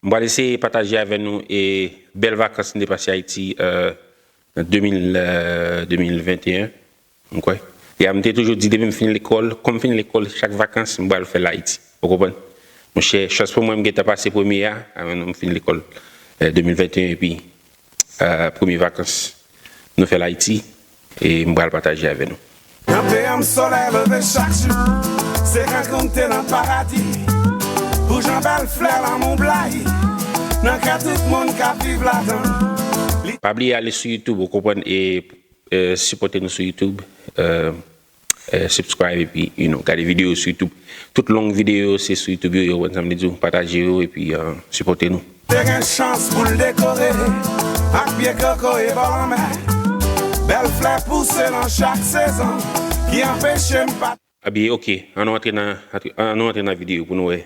M pral eseye pataje avè nou e bèl vakans m te pase Ayiti an 2021 m kwè ya m te toujou di depi m fin lekòl kòm fin lekòl chak vakans m pral fè l Ayiti ou konprann monchè chans pou mwen m gentan pase premye a avè nou m fin lekòl 2021 epi premye vakans nou fè l Ayiti. E m pral pataje avè nou. Nan peyi m solèy leve chak jou Se rankonte nan paradi Pou jan bèl flè lanmou blayi Nan kè tout moun k ap viv ladan l. Pa bliye ale sou youtube ou konprann e sipòte nou sou youtube. Subscribe epi you know gade video yo sou youtube tout long video yo se sou youtube yo ye ou konn sam vle diw pataje yo epi sipote nou. Te gen chans pou l dekore ak pye koko e bò lanmè Bèl flè pouse nan chak sezon ki anpeche m pa. Abiye ok an nou antre nan video pou nou wè.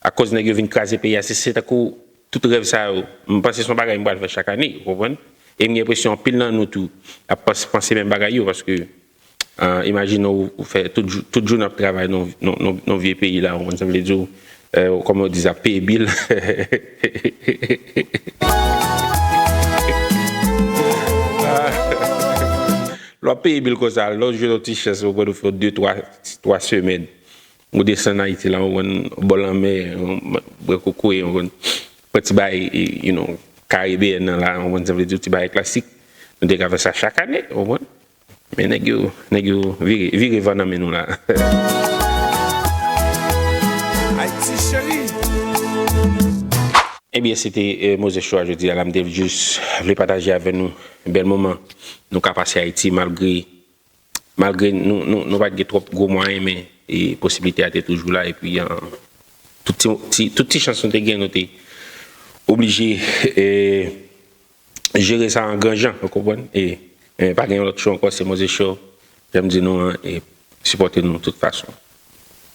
Akoz nèg yo vin kraze peyi a, se tankou tout rèv sa yo, m panse se yon bagay m pral fè chak ane, ou konprann? E m gen enpresyon anpil nan nou tou ap panse menm bagay yo paske imajine w ou fè tout jounen w ap travay nan yon vye peyi la, ou konprann sa m vle di w, kòman yo di sa, peye bil. Lè w ap peye bil konsa, lè w jwenn yon ti chans ou konprann ou fè yon de twa semèn Ou desann Ayiti la ou konn bò lanmè bwè kokoye ou konn pran ti bagay you know karibeyèn nan la ou konprann sa m vle di w ti bagay klasik nou te ka fè sa chak ane ou konprann men nèg yo nèg yo vire vire van nan men nou la. Ebyen se te Moses Choix jodi a la m te jis vle pataje avè nou bèl moman nou ka pase Ayiti malgre Malgre nou pa t gen twòp gwo mwayen men posiblite a te toujou la epi tout ti chans nou te gen nou te oblije jere sa an gran jan ou konprann e pa gen yon lòt cho ankò se Moze Show jan m di nou an e sipòte nou tout fason.